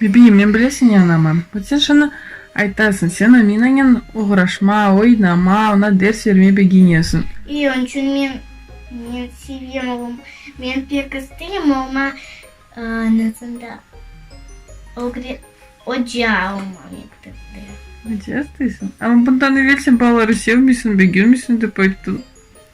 Bibiyim, men bile seni anamam. Vat sen şunı aytasıñ, sen Aminanen oğraşma, oynama, oña ders bermey begenesiñ. İy, onıñ içün men, men sevem oğlum. Men pek isteyim oğluma anasında ögre, oca olma mektepte. Oca isteysiñ? Amma bundan evel sen balaları sevmeysiñ, begenmeysiñ dep ayttıñ.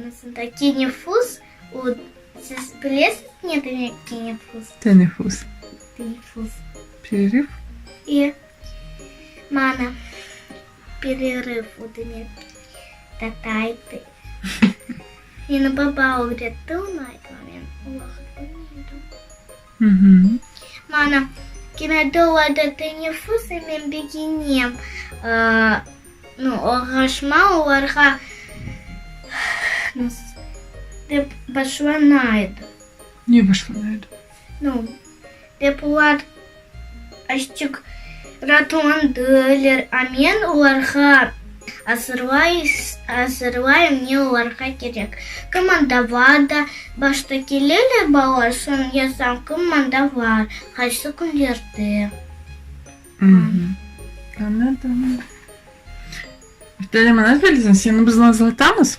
Anasındaki nüfus, o, siz bilesiz ne demek ki nüfus? Teneffüs. Teneffüs. Pereryv? E, mana, pereryv, o demek tatay til. Meni baba ögretti, onı aytmağa men uloq bilmeydim. Mana, kinoda olada teneffüs e men begenem. Oğraşma olarğa dep başlana edi. Ne başlana edi? Dep olar. Açıq ratondılar, a men olarğa azırlayım, ne olarğa kerek. Kim mında var da, başta keleler balalar, soñ yazam, kim mında var, qaysı künlerde. Añladımı? Muhterem Anargül, seni biz nazlatamız.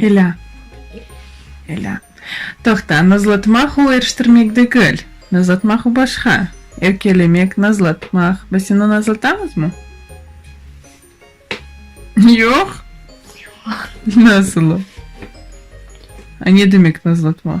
Elâ. Elâ. Toqta, nazlatmaq o eriştirmek degil. Nazlatmaq o başqa. Erkelemek, nazlatmaq. Biz seni nazlatamızmı? Yoq? Yoq. Nasıl o? A ne demek nazlatmaq?